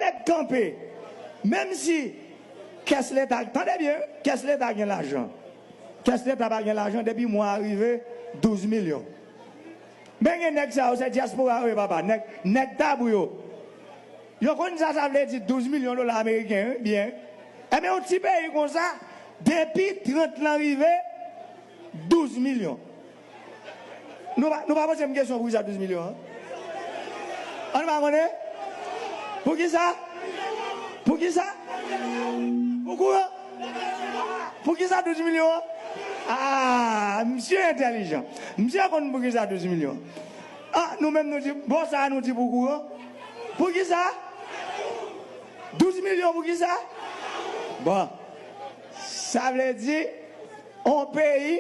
Tèt kanpe! Menm si kès leta, tande byen wi, kès leta gen lajan. Kès leta pa gen lajan depi mwa a rive 12 milyon. Men gen nèg sa yo se dyaspora yo ye papa, nèg, nèg tabou yo. Yo konn sa sa vle di 12 milyon dola ameriken wi byen. Enben yon ti peyi konsa depi 30 lan rive 12 milyon. Nou pa poze m kesyon pou kisa 12 milyon an? An nou pa konnen? Pou kisa? Pou kisa? Ou kouran? Pou kisa 12 milyon an? Aa! Msye entèlijan. Msye konn pou kisa 12 milyon an. A! Nou menm nou di, bon sa a nou di pou kouran? Pou kisa? 12 milyon pou kisa? Bon. Sa vle di, on peyi.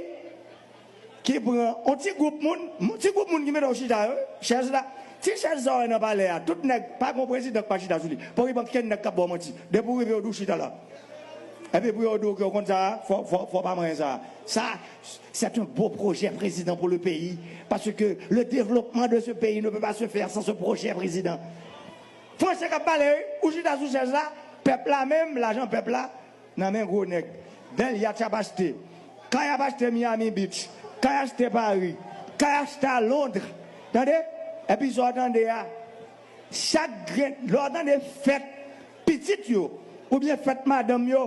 Ki pran on ti gwoup moun, ti gwoup moun ki mete w chita yo, chèz la, ti chèz sa w wè nan palè a, tout nèg, pa gen on prezidan ki pa chita sou li. Poko gen ankenn nèg k ap ba w manti. Depi ou rive yo di w chita la. Epi pou yo di w ke ou konn sa a, fò, fò, fò w pa manyen sa a. Sa, c'est un beau projet prezidan pour le peyi, parce que le developpement de ce peyi ne peut pas se faire sans ce projet prezidan. Franse k ap pale wi, ou chita sou chèz la, pèp la menm, lajan pèp la, Nan men gwo nèg. Bèl yatch ap achte. Kay ap achte Miami Beach. Kay achte Paris. Kay achte a Londres. Tande! Epi sa w tande a, chak grenn, lè w tande fèt pitit yo oubyen fèt madanm yo,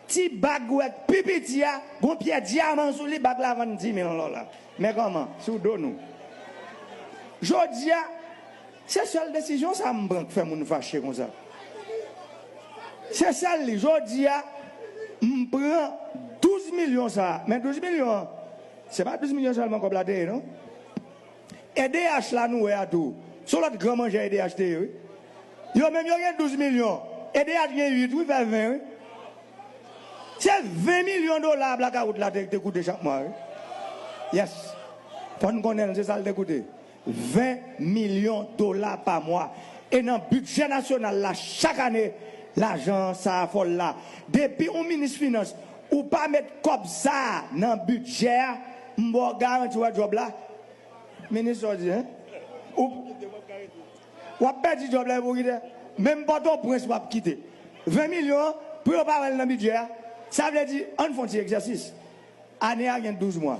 ti bag ou wè k pi piti a, gon pyè dyaman sou li, bag la vann 10 mil dola. Men kòman, sou do nou. Jodi a. Se sèl desizyon sa m pran k fè moun fache konsa. Se sèl li. Jodi a, m pran 12 milyon sa a. Men 12 milyon an, se pa 12 milyon sèlman kòb la te ye non. Edh la nou wè a tou, se yon lòt gran manjè edh te ye wi. Yo menm yo gen 12 milyon, edh gen 8 wi, fè 20 wi. Se 20 milyon dola blakawout la te koute chak mwa wi. Yes. Fò n konnen l, se sa l te koute. 20 milyon dola pa mwa. E nan bidjè nasyonal la chak ane lajan sa a fòl la. Depi ou minis finans ou pa met kòb sa a nan bidjè a m ba w garanti wè djòb la minis sa w di hein ou w ap pèdi djòb la epi w kite menm pòtoprens w ap kite 20 milyon an pou yo pa wè l nan bidjè a sa vle di ann fon ti egzèsis ane a gen 12 mwa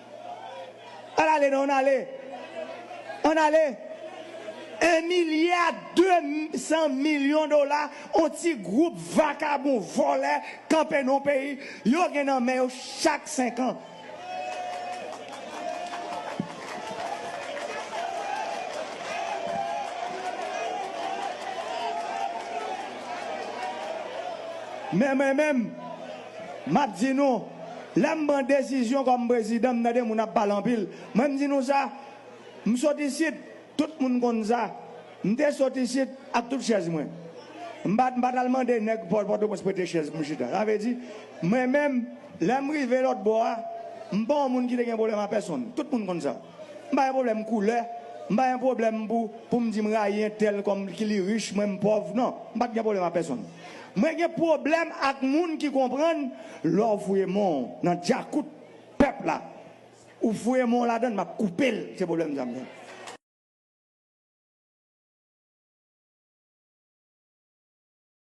Al ale nan an ale. An ale. 1 milya 2 san milyon dola on ti group vakabon volè kanpe nan on peyi yo gen nan men yo chak 5 an. Men mwen menm. Map di nou, lè m pran desizyon kòm prezidan m tande moun ap pale anpil, mwen m di nou sa, m sot isit, tout moun konn sa, m te sot isit ak tout chèz mwen. M pa m pa t al mande nèg Pòtoprens prete chèz pou m chita. Sa vle di, mwen menm, lè m rive lòt bò a, m pa yon moun ki te gen pwoblèm a pèsonn. Tout moun konn sa. M pa gen pwoblèm koulè, m pa gen pwoblèm pou pou m di m rayi entèl kòm ki li rich, mwen m pòv, non. M pa t gen pwoblèm a pèsonn. Mwen gen pwoblèm ak moun ki konprann lè w fouye men w nan djakout pèp la ou fouye men w ladan l m ap koupe l se pwoblèm sa m gen.